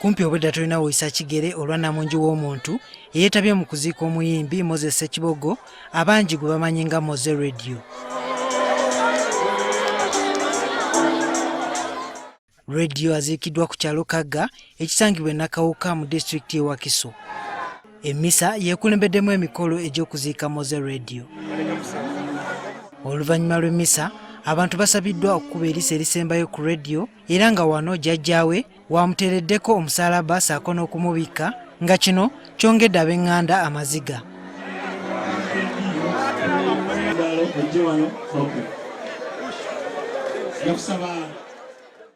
kumpi obwedda tulina woyisa kigere olwa namungi w'omuntu eyeetabye mu kuziika omuyimbi moses sekibogo abangi gwe bamanyi nga moze radio radio aziikiddwa ku kyalo kagga ekisangibwa enakawuka mu disitulikiti y'ewakiso Emmisa yeekulembeddemu emikolo egy'okuziika Moze Radio. Oluvannyuma lw'emmisa abantu basabiddwa okukuba erisa erisembayo ku radio era nga wano jjajjaawe wamuteereddeko omusaalaba saako n'okumubikka nga kino kyongedde ab'eŋŋanda amaziga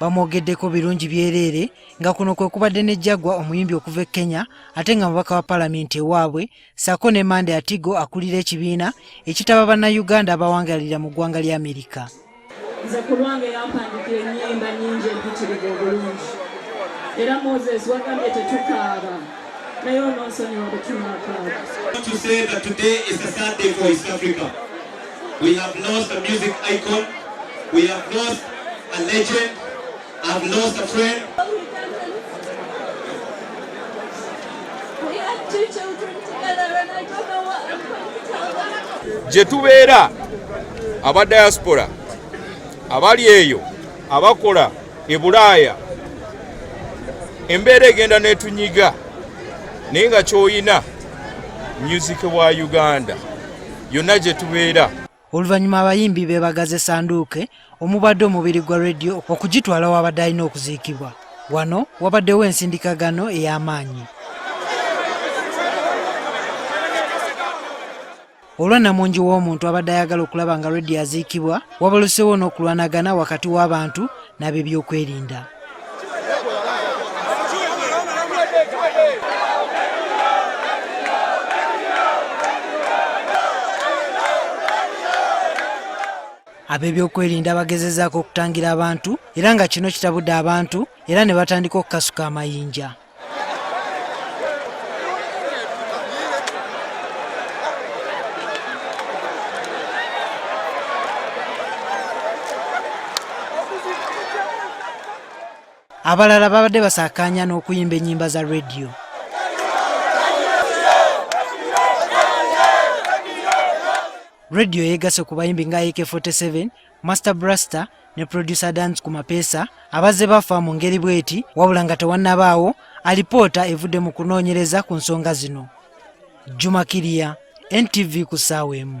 bamwogeddeko birungi byereere nga kuno kwe kubadde ne jagwa omuyimbi okuva e kenya ate nga mubaka wa palamenti ewaabwe saako ne mande atigo akulira ekibiina ekitaba bannayuganda abawangalira mu ggwanga lya amerika nze ku lwange yampandikira ennyimba nnyingi empitirivu obulungi era moses wagambye tetukaaba naye ononsonyiwa bwetunakaaba We have lost a music icon. We have lost a legend. I have lost a friend. gye tubeera aba diaspora abali eyo abakola e bulaaya embeera egenda netunyiga naye nga kyoyina music wa uganda yonna gye tubeera oluvannyuma abayimbi be bagaze sanduuke omubadde omubiri gwa rediyo okugitwala wabadde alina okuziikibwa wano wabaddewo ensindikagano ey'amaanyi olwa namungi w'omuntu abadde ayagala okulaba nga rediyo aziikibwa wabalosewo n'okulwanagana wakati w'abantu n'ab'ebyokwerinda ab'ebyokwerinda bagezezaako okutangira abantu era nga kino kitabudde abantu era ne batandika okukasuka amayinja abalala babadde basakaanya n'okuyimba ennyimba za rediyo rediyo yeegase ku bayimbi nga ak 47 Master Blaster ne producer Dance ku mapeesa abazze bafa mu ngeri bw'eti wabula nga tewannabaawo alipoota evudde mu kunoonyereza ku nsonga zino. Juma Kiria, NTV ku ssaawa emu.